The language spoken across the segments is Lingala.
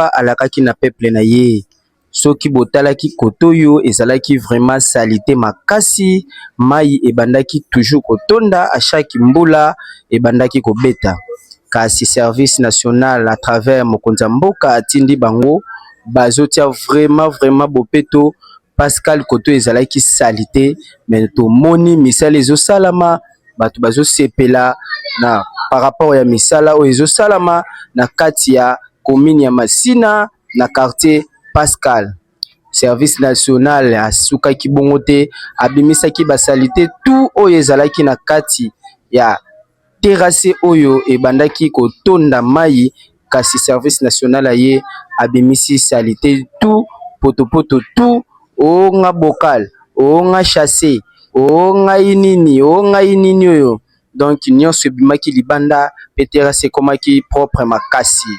papa alakaki na peuple na ye soki botalaki kote oyo ezalaki vraiment salite makasi mai ebandaki toujours kotonda à chaque mbula ebandaki kobeta kasi service national à travers mokonzi ya mboka atindi bango bazotia vraiment vraiment bopeto pascal koto ezalaki salite mais tomoni misala ezosalama bato bazosepela na par rapport ya misala oyo ezosalama na kati ya commune ya Masina na quartier Pascal. Service national asukaki bongo te, abimisaki basalite tout oyo ezalaki na kati ya terase oyo ebandaki kotonda mai kasi service national aye abimisi salite tout potopoto tout o oh, nga bocal o oh, nga chasse o oh, ngai nini o ngai nini oyo donc nyonso ebimaki libanda mpe terrasse ekomaki propre makasi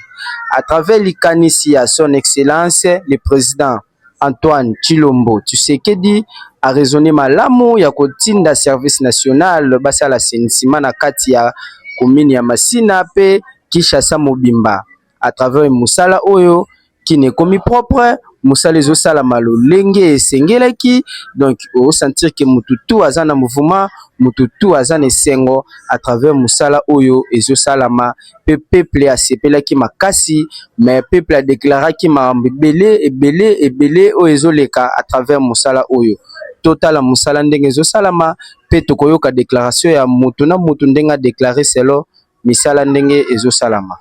à travers likanisi ya son excellence le président Antoine tshilombo tshisekedi a raisonne malamu ya kotinda service national basala assainissement na kati ya commune ya masina pe Kinshasa mobimba à travers musala oyo kin ekomi propre musala ezo salama lolenge esengelaki donc o sentir que mutu tout aza na mouvement mutu tout aza na esengo à travers musala oyo ezo salama. pe peuple asepelaki makasi mais peuple a declaraki makambo ebele ebele ebele oyo ezoleka à travers mosala oyo totala mosala ndenge ezosalama pe tokoyoka declaration ya mutu na mutu ndenge a declare selon misala ndenge ezosalama.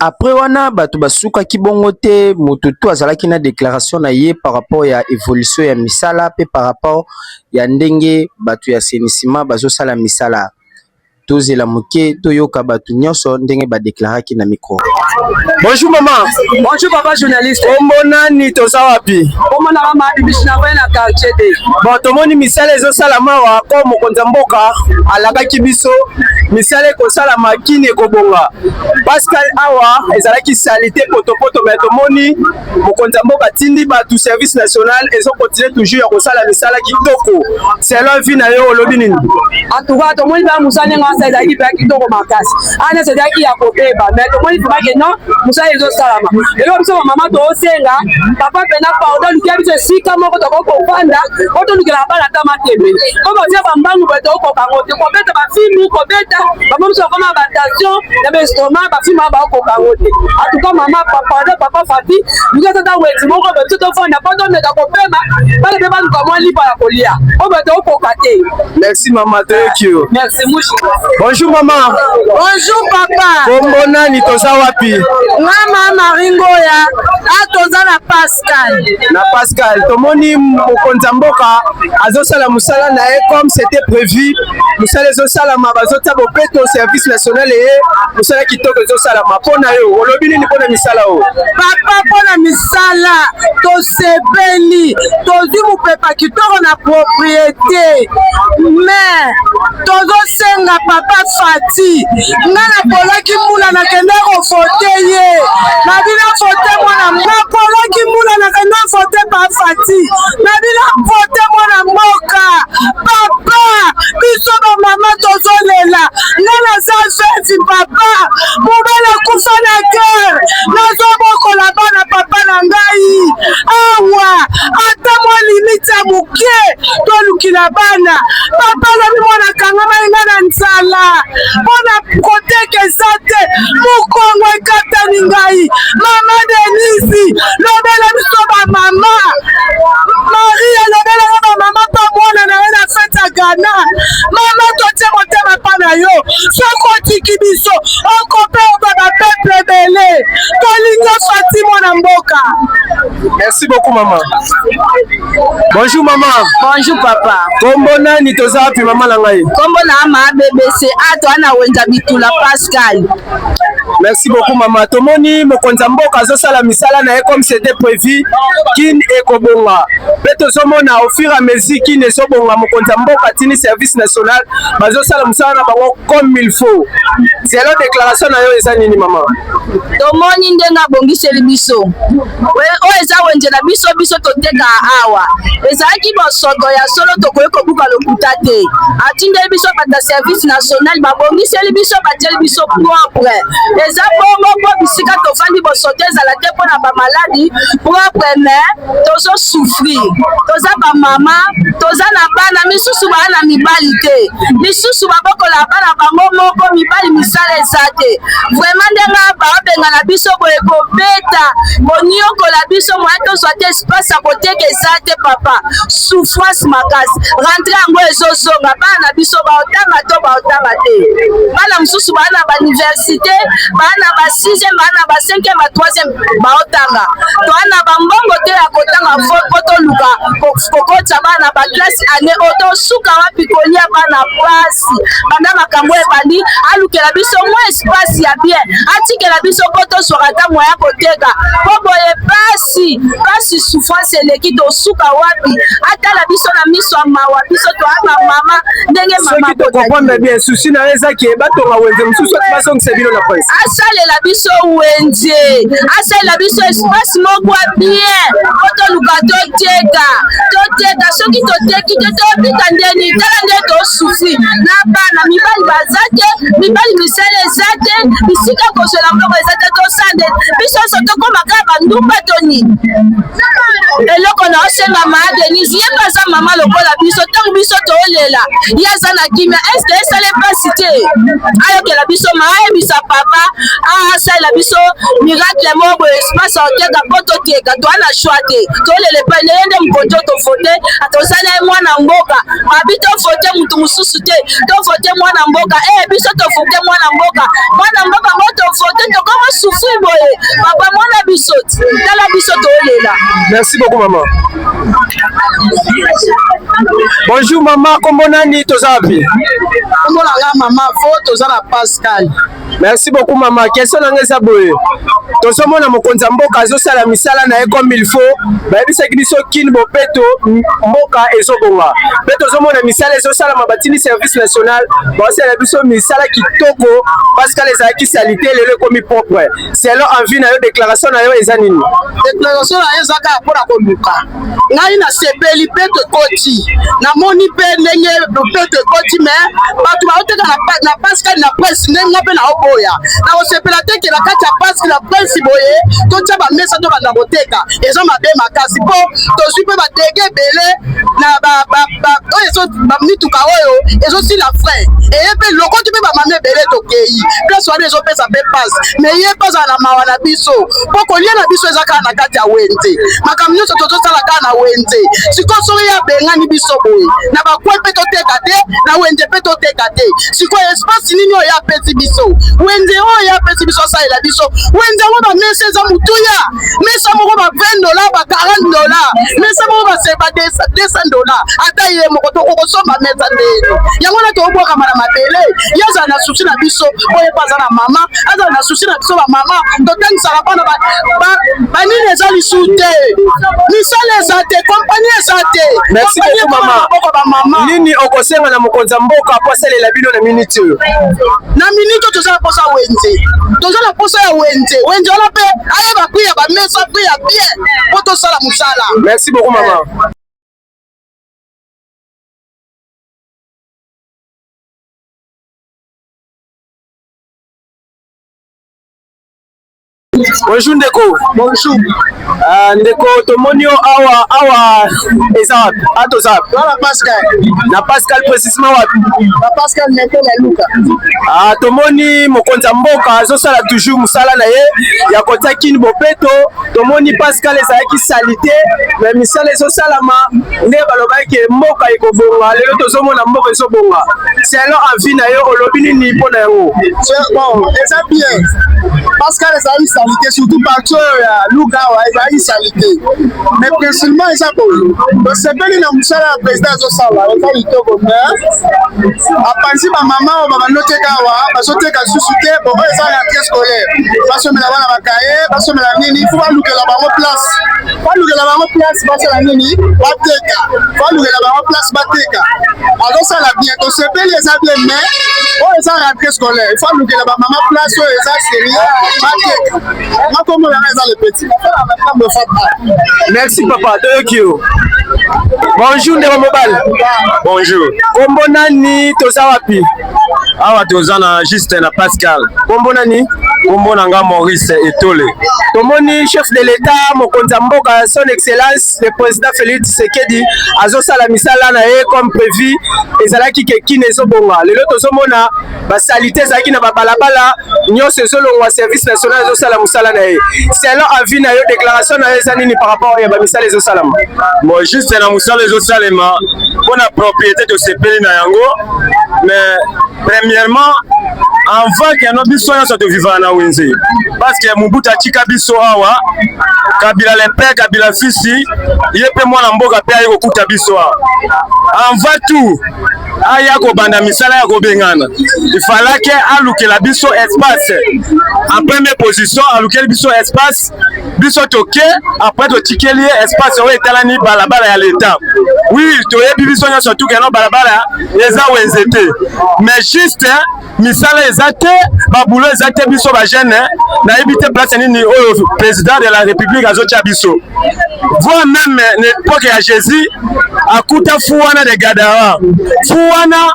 Après wana bato basukaki bongo te, moto tout azalaki na declaration na ye par rapport ya evolution ya misala pe par rapport ya ndenge bato ya assainissement bazosala misala. Tozela muke toyoka batu nionso ndenge ba declaraki na micro. Bonjour maman. Bonjour papa journaliste. Kombo nani toza wapi? Kombo na mama Bibishi na vaya na quartier de. Bon tomoni misala ezo sala mawa ko mokonza mboka alakaki biso misala ekosala makini ekobonga. Pascal awa ezalaki salite poto poto mais tomoni mokonzi ya mboka atindi bato service national ezo continue toujours ya kosala misala kitoko selon vie na yo olobi nini antuka tomoni baa mosala ndenge wana ezalaki mpenza kitoko makasi ana ezalaki ya kobeba mai tomoni vraimen ke non mosala ezosalama eloko biso bamama toosenga papa mpena pardon lukia biso esika moko tokoki kofanda po tolukelaka bana ata matembe po bazia bambangu baye tokokoka yango te kobeta bafilme kobeta bamomisa bakoma batension na bestoma bafilma bakoka yango te atuka mama papa na papa fati luka tata weti moko babiso tofanda mpo tomeka kopema bana mpe baluka mwa lipa ya kolia oyo bato okoka te merci mama toyoki yo merci mushi bonjour mama bonjour papa kombo nani toza wapi mama maringoya a ah, toza na pasi Pascal. Na Pascal, tomoni mokonzi ya mboka azosala mosala na ye comme c'était prévu. Mosala ezosalama, bazotia bopeto service national eye mosala kitoko ezosalama. Mpo na yo, olobi nini mpo na misala oyo? Papa, mpo na misala tosepeli, tozwi mopepa kitoko na propriete, mais tozosenga papa Fati nga napolaki mbula nakende kovote ye nabi navote mwana napolaki mbula nakende vote bafati nabi navote mwana mboka papa biso bamama tozolela nga naza veti papa mobele akufa na guerre nazobokola bana papa na ngai awa ata mwa limiti ya moke tolukila bana papa lobi mwana kangama enga na nzala mpo na koteka eza te mokongo ekatani ngai mama denisi lobela biso bamama maria lobela yo bamama mpa mwana na ye na fete ya gana mama totie motema mpa na yo soko otiki biso okope oba bapeple ebele tolingi fatimo na mboka Merci beaucoup maman. Bonjour maman. Bonjour papa. Kombo nani toza wapi maman na ngai? Kombo na ama BBC ato ana wenza bitula Pascal. Merci beaucoup maman. Tomoni mokonzi ya mboka azosala misala na ye comme c'était prévu. Kin ekobonga. Pe tozomona au fur et à mesure kin ezobonga mokonzi ya mboka tini service national bazosala mosala na bango comme il faut. Selon déclaration na yo eza nini maman? tomoni ndenge abongiseli biso oyo eza wenze na biso biso toteka awa ezalaki bosoto ya solo tokoki kobuka lokuta te atindeli biso bata service national babongiseli biso batieli biso propre eza bongo mpo bisika tofandi bosoto ezala te mpo na bamaladi propre mais tozo souffrir toza bamama toza na bana misusu baa na mibali te misusu babokola bana bango moko mibali misala eza te vraiment ndenge baabengana biso boye kobeta koniokola biso moya tozwa te espace ya koteka eza te papa souffrance makasi rentre yango ezozonga bana na biso baotanga to baotanga te bana mosusu baa na bauniversité baa na ba 6e baa na ba 5e ba 3e baotanga toa na bambongo te ya kotanga vote mpo toluka kokotisa bana baklase ane oyo tosuka wapi kolia bana mpasi banda makambo oyo ebandi alukela biso mwa espasi ya bien atikela biso mpo tozwaka ata mwa ya koteka mpo boye mpasi mpasi souffrance eleki tosuka wapi atala biso na miso ya mawa biso toa bamama ndenge mama soki tokokonda bien susi na yo ezaki batonga wenze mosusu basongisa bino na asalela biso wenze asalela biso espace moko ya bien po toluka toteka toteka soki toteki te tobika ndeni tala nde tosufri na bana mibali baza te mibali misala eza te bisika kozwela mbongo eza te tosande biso nyonso tokoma kaka bandumba to nini eloko na osenga maa denise ye mpe aza mama lokola biso ntango biso toolela ye aza na kimia eske esala mpasi te ayokela biso maayebisa papa asalela ah, biso miracle moko boye espace oteka mpo toteka toa na choix te tolela epai na ye nde mokonzi oyo tovote atosali ye mwana mboka babi tovote motu mosusu te tovote mwana mboka e biso tovote mwana mboka mwana mboka ngo tovote tokoma sufri boye papa mwana biso tala biso tolela merci beaucoup mama Bonjour mama, kombo nani toza wapi? Kombo na nga mama fo toza na Pascal. Merci beaucoup mama. Question na nga eza boye. Tozomona mokonzi ya mboka azosala misala na ye comme il faut. Bayebisaki biso kin bopeto mboka ezobonga. Mpe tozomona misala ezosalama batini service national. Baosala biso misala kitoko. Pascal ezalaki salite lelo ekomi propre. selon envie na yo déclaration na yo eza nini déclaration na yo eza kaka mpo na koluka ngai nasepeli mpe tokoti namoni mpe ndenge mpe tokoti me bato baoteka na paskali na presi ndenge nga mpe naoboya nakosepela te ke na kati ya paski na presi boye totya bamesa tobanda koteka eza mabe makasi mpo tozwi mpe badege ebele na oyo ezo mituka oyo ezosila frais eye mpe lokoti mpe bamami ebele tokei place wana ezopesa mpe pase mais ye mpe azala na mawa na biso mpo kolia na biso eza kaka na kati ya wenze makambo nyonso tozosala kaka na wenze sikoyo soki ye abengani biso boye na bakwe mpe toteka te na wenze mpe toteka te sikoyo espace nini oyo apesi biso wenze oyo apesi biso asalela biso wenze yango bamesa eza motuya mesa moko ba 20 dola ba 40 dola mesa moko baseba 200 dola ata ye moko tokokosomba mesa nde yango na tobwakama na mabele ye azala na susi na biso oyo epo aza na mama azala na susi na biso bamama totangisaka mpona banini eza lisu te misala eza te kompani eza te maboko bamama nini okosenga na mokonzi ya mboka mpo asalela bino na miniti oyo na miniti oyo toza na mposa wenze toza na mposa ya wenze wenze wana mpe ayeba prix ya bamesa prix ya bien mpo tosala mosala merci beaucoup mama bonjour ndeko bonjour uh, ndeko tomoni yo awa awa eza wapi atoza wapi na pascal na pascal etablissement wapi na pascal meko na luka ah tomoni mokonzi ya mboka azosala toujours mosala na ye ya kotia kini bopeto tomoni pascal ezalaki salite mais misala ezosalama nde balobaki ke mboka ekobonga lelo tozomona mboka ezobonga selo avi na yo olobi nini mpo na yango bon eza bien pascal ezalaki salite surtout parti oyo ya luka wa ezalaki salite mingi te mais principalement eza boye tosepeli na mosala ya président azosala eza litoko mais apanzi bamama oyo babandoteka awa bazoteka susu te bo oyo eza rentrée scolaire basomela bana bakaye basomela nini fo balukela bango place balukela bango place basala nini bateka balukela bango place bateka azosala bien tosepeli eza bien mais oyo eza rentrée scolaire fo alukela bamama place oyo eza sérieux bateka nga kombo na nga eza le petit nasalaka na ntambo fata merci papa toyoki yo bonjour ndeko mobali bonjour kombo nani toza wapi awa toza na juste na pascal kombo nani kombo na nga maurice etole tomoni chef de l'etat mokonzi ya mboka son excellence le président félix tshisekedi azosala misala na ye comme prévu ezalaki ke kine ezobonga lelo tozomona basalite ezalaki na babalabala nyonso ezolongwa service national ezosala mosala na ye selon avis na yo déclaration na yo eza nini par rapport ya bamisala ezosalama bon juste na mosala ezosalema mpo na propriété tosepeli na yango mais premièrement avant que no biso nyonso tovivaka na wenze parce que mobutu atika biso awa kabila le père kabila fisi ye mpe mwana mboka mpe aye kokuta biso awa avant tout aya kobanda misala ya kobengana ifalaki alukela biso espace en première position alukeli biso espace biso toke après totikeli ye espace oyo etalani balabala ya leta oui toyebi biso nyonso tukeno balabala eza wenze te mais juste misala eza te babulo eza te biso bajeune eh. nayebi te place nini oyo président de la république azotya biso voi meme na époque ya jésus akuta fu wana de gadara fu wana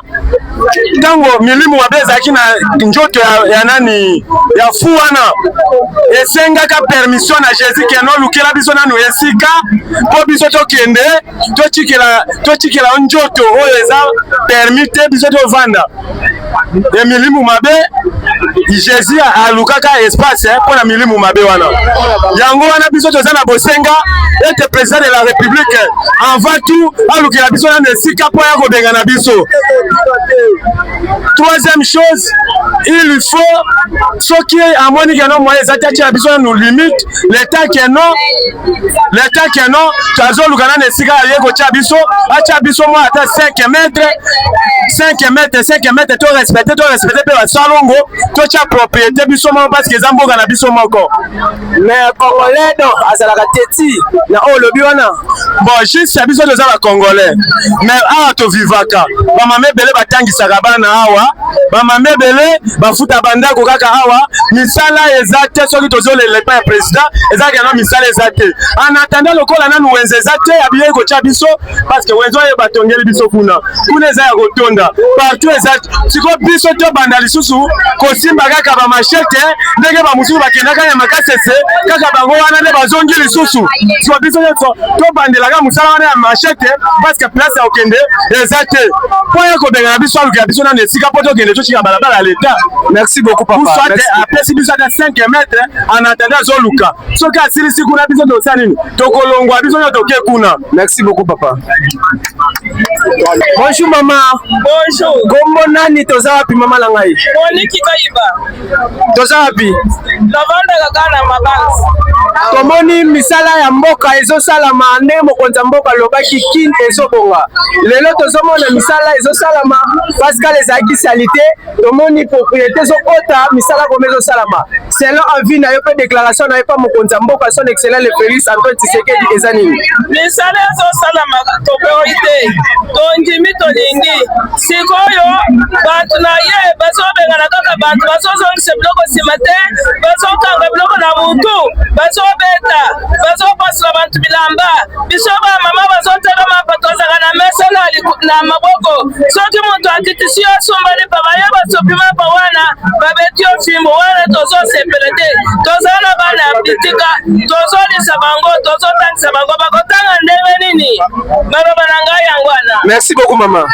ntango milimu mabe ezalaki na njoto ya, ya nani ya fu wana esengaka permission na jésus keno olukela biso nanu esika mpo biso tokende totikela totikela yo njoto oyo eza permi te biso tovanda ya milimu mabe jésus alukaka espace eh, mpo na milimu mabe wana yango wana biso toza na bosenga ete président de la république avant tout alukela biso nano esika mpo ya kobengana biso troisième chose il faut soki amoni keno moye eza te atyela biso nanu limite leta keno leta keno tazoluka nani esika aye kotya biso atya biso mwa ata 5 metre 5 metre 5 metre to respecte to respecte mpe basalongo totya propriété biso moko parce que eza mboka na biso moko mais congolais donc azalaka teti na oyo olobi wana bon juste biso toza ba congolais mais awa tovivaka bamama ebele batangisaka bana awa bamama ebele bafuta bandako kaka awa misala eza te soki tozolela epai ya president ezalaka yango misala eza te anatanda lokola nanu wenze eza te abiyei kotya biso parceke wenze oyo batongeli biso kuna kuna eza ya kotonda partout eza sikoyo biso tobanda lisusu kosimba kaka bamashete ndenge bamosusu bakendaka ya makasese kaka bango wana nde bazongi lisusu sikoyo biso nyonso tobandelaka mosala wana ya mashete parceke place ya kokende eza te mpo ye kobengana biso alukela biso nano esika mpo tokende totika balabala ya leta merci beaucoup papa soit apesi biso ata 5 mètre en attendant azoluka soki asilisi kuna biso tosa nini tokolongwa biso nyo toke kuna merci beaucoup papa bonjour mama bonjour kombo nani toza wapi mama na ngai toza wapi tofandaka kaka na mabanzi tomoni misala ya mboka ezosalama nde mokonzi ya mboka alobaki kin ezobonga lelo tozomona misala ezosalama pascal ezalaki salite tomoni propriété ezokota misala koma ezosalama selon avis na yo mpe déclaration na yo mpa mokonzi ya mboka son excellent le félix antoine tshisekedi eza nini misala ezosalama tokoki te tondimi tolingi sikoyo bato na ye bazobengana kaka bato bazozongisa biloko nsima te bazokanga biloko na motu bazobeta bazopasula bato bilamba biso bamama bazotelama bato azaka na mesa na maboko soki moto akitisi yo asumbani papa ye basopi mapa wana babeti yo fimbo wana tozosepela te toza na bana ya bitika tozolisa bango tozotangisa bango bakotanga ndenge nini Maloba na ngai yango wana. Merci beaucoup mama.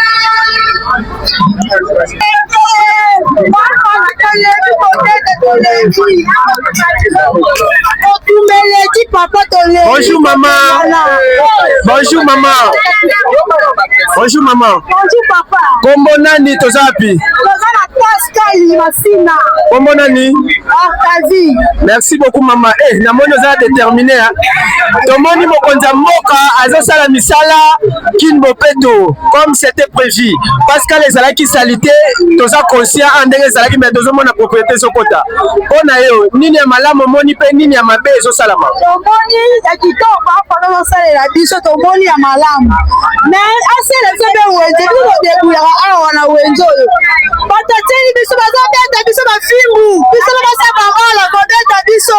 Bonjour maman. Bonjour maman. Bonjour maman. Bonjour papa. Kombo nani toza wapi? Toza na Pascal Masina. Kombo nani? Arkazi. Merci beaucoup maman. Eh, namoni oza déterminé hein. tomoni mokonzi ya mboka azosala misala kin bopeto comme c'était prévu pascal ezalaki salite toza conscient a ndenge ezalaki mais tozomona propriété ezokota mpo na yo nini ya malamu omoni mpe nini ya mabe ezosalama tomoni ya kitoko apana ozosalela biso tomoni ya malamu mais asala biso mpe wenze biso todebuyaka awa na wenze oyo batateli biso bazobeta biso bafimbu biso na basaka mala kobeta biso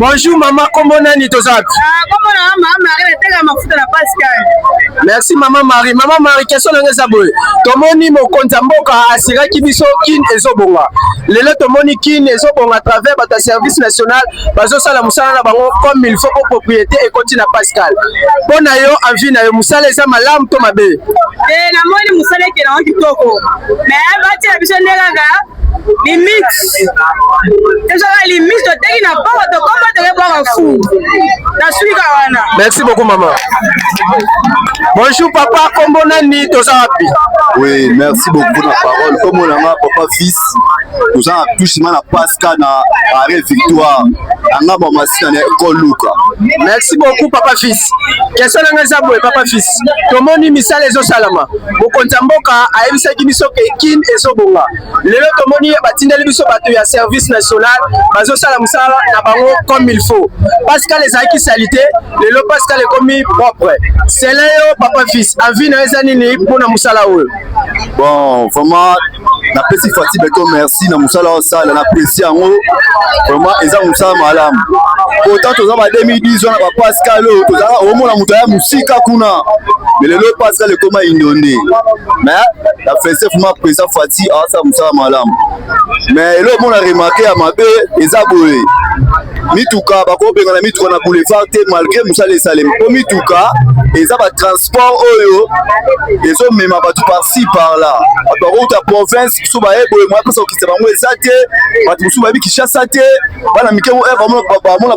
Bonjour maman, comment nani toza wapi? Ah, comment na maman Marie nateka mafuta na Pascal. Merci maman Marie. Maman Marie, question na ngeza boye. Tomoni mokonzi mboka asiraki biso kin ezobonga. Lelo tomoni kin ezobonga à travers bata service national bazosala mosala na bango comme il faut po propriété ekoti na pascal mpo na yo envie na yo mosala eza malamu to mabe eh, namoni mosala ekelango kitoko me batela biso nde kaka limite ezaka limite toteki na bongo tokoma toke bwaka fu na swika wana merci beaucoup mama bonjour papa kombo nani toza wapi oui merci beaucoup na parole kombo na nga papa fils toza na tusima na pasca na arret victoire anga bamasina na ekoluka merci beaucoup papa fils question nanga eza boye papa fils tomoni misala ezosalama mokonzi ya mboka ayebisaki biso ke kin ezobonga lelo tomoni batindeli biso bato ya service national bazosala mosala na bango comme il faut pascal ezalaki salite lelo pascal ekomi propre sele yo papa fils avi na yo eza nini mpo na mosala oyo bon vraiment napesi fati beto merci na mosala osala napesi yango vraiment eza mosala malamu pourtant toza ba 2010 wana bapascal oyo tozalaka omona moto aya mosika kuna me lelo pascal ekoma indone mais na fese vraiment président fati asala mosala malamu mais eloko mona remarke ya mabe eza boye mituka bakobengana mituka na boulevard te malgré mosala esalemi mpo mituka eza batransport oyo ezomema bato parci par là bato bakouta province biso baye boye moya mposa kokisa bango eza te bato mosusu bayebi kinshasa te bana mike bamona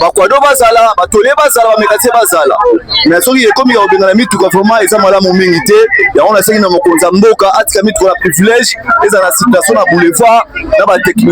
bakwado bazala batole bazala bamekase bazala me soki ekomi ya kobengana mituka vraiment eza malamu mingi te yango nasengi na mokonzi ya mboka atika mituka na privilège ezala na circulation na boulevard na batechni